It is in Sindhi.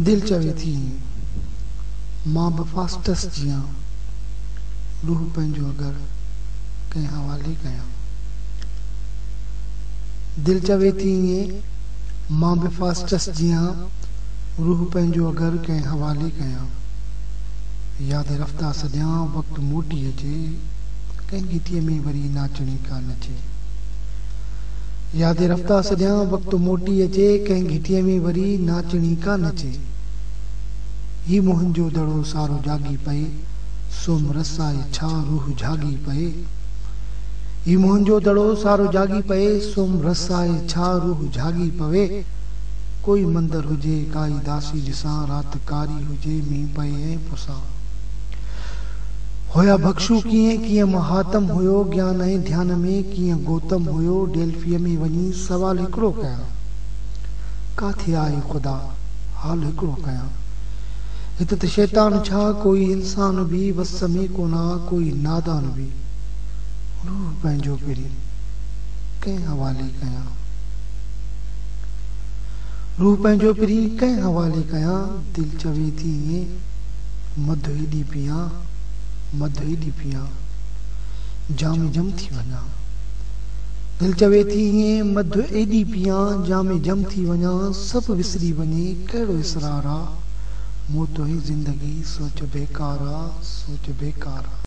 دل چوي ٿي مان به فاسٽس جيان روح پنهنجو اگر ڪنهن حوالي ڪيان. دل چوي ٿي ائين مان به فاسٽس جيان روح پنهنجو اگر ڪنهن حوالي ڪيان. ياد رفته سڏيان وقت موٽي اچي ڪنهن گيتي ۾ وري ناچڻي ڪا نچي. يادي رفته سڄان وقت موٽي اچي ڪنهن گهٽيء ۾ وري ناچڻي ڪا نچي هي منهنجو دڙو سارو جاڳي پئي سوم رس آء ڇا روح جهاڳي پئي هي منهنجو دڙو سارو جاڳي پئي سوم رس آء ڇا روح جهاڳي پوي ڪوئي مندر هجي ڪائي داسي ڏسان رات ڪاري هجي مينهن پئي ۽ پسان هيا ڀڪشو ڪيئن ڪيئن مهاتم هيو گيان ۽ ڌيان ۾ ڪيئن گوتم هيو ڊيلفيء ۾ وڃي سوال هڪڙو ڪيان ڪاٿي آهي خدا حال هڪڙو ڪيان هت ته شيطان ڇا ڪوئي انسان به وس ۾ ڪونه ڪوئي نادان به روح پنهنجو پرين ڪنهن حوالي ڪيان روح پنهنجو پرين ڪنهن حوالي ڪيان دل چوي ٿي ائين مڌ ايڏي پيئان، مڌ ايڏي پيئان، جام جم ٿي وڃان. دل چوي ٿي ايئن مڌ ايڏي پيئان، جام جم ٿي وڃان، سڀ وسري وڃي ڪهڙو اسرار آ، مون تنهنجي زندگي سوچ بيڪار آ، سوچ بيڪار آ.